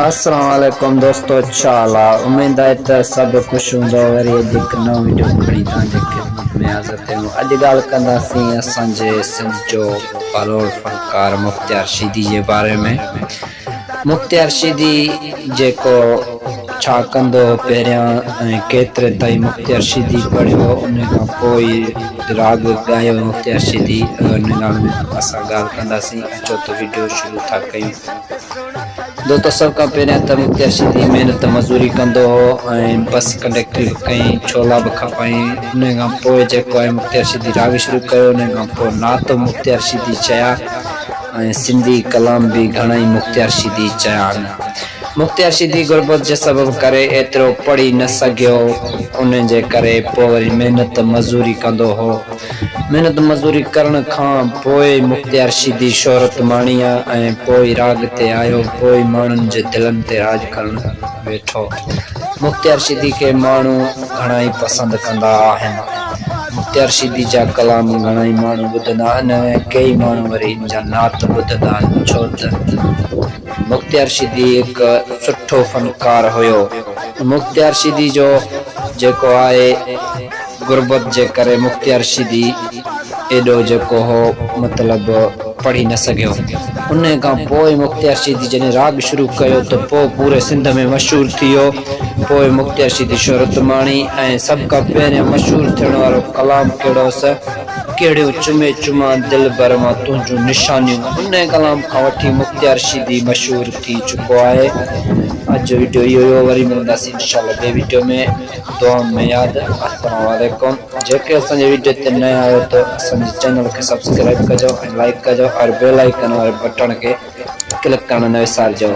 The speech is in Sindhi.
اسلام عليڪم دوستو ڇا حال آ اميد آهي ته سڀ خوش هوندؤ وري اڄ هڪ نئون وڊيو کڻي توهان جي خدمت ۾ حاضر ٿيو آهيون اڄ ڳالهه ڪنداسين اسان جي سنڌ جو بلوڙ فنڪار مختيار شيدي جي باري ۾ مختيار شيدي جيڪو ڇا ڪندو هو پهريان ۽ ڪيتري تائين مختيار شيدي پڙهيو ان کان پوء ئي راڳ ڳايو مختيار شيدي ان ڳالهه ۾ اسان ڳالهه ڪنداسين اچو ته وڊيو شروع ٿا ڪيون جو ته سڀ کان پهريان ته مختيار سنڌي محنت مزوري ڪندو هو ۽ بس ڪنڊيڪٽري به ڪئين، ڇولا به کپائين، انهيء کان پوء جيڪو آهي مختيار سنڌي راڳ شروع ڪيو، انهيء کان پوء نعت به مختيار سنڌي چيا ۽ سنڌي ڪلام به گهڻائي مختيار سنڌي چيائين. مختيار سنڌي غربت جي سبب ڪري ايترو پڙهي نه سگهيو، انهيء جي ڪري پوء وري محنت مزوري ڪندو هو. محنت مزوري ڪرڻ کان پوء مختيار شيدي شهرت ماڻي ها ۽ پوء راڳ تي آيو پوء ماڻهن جي دلن تي راڄ ڪرڻ ويٺو. مختيار شيدي کي ماڻهو گهڻائي پسند ڪندا آهن. مختيار شيدي جا ڪلام گهڻائي ماڻهو ٻڌندا آهن ۽ ڪيئي ماڻهو وري ان جا نعت ٻڌندا آهن ڇو ته مختيار شيدي هڪ سٺو فنڪار هيو. مختيار شيدي جو جيڪو آهي. غربت جي ڪري مختيار شيدي ايڏو جيڪو هو مطلب پڙهي نه سگهيو. انهيء کان پوء مختيار شيدي جڏهن راڳ شروع ڪيو ته پوء پوري سنڌ ۾ مشهور ٿيو. پوء مختيار شيدي شهرت ماڻي ۽ سڀ کان پهريان مشهور ٿيڻ وارو ڪلام ڪهڙو هوس؟ ڪهڙيون چمي چمان دلبر مان تنهنجون نشانيون. انهيء ڪلام کان وٺي مختيار شيدي مشهور ٿي چڪو آهي. اڄ جو وڊيو اهو ئي هو وري ملنداسين انشاء الله ٻئي وڊيو ۾. دعا ۾ ياد. السلام عليڪم جيڪي اسان جي ويڊيو تي نئين آهيو ته اسان جي چينل کي سبسڪرائيب ڪجو ۽ لائيڪ ڪجو اور بيل آئيڪن واري بٽڻ کي ڪلڪ ڪرڻ نه وسارجو.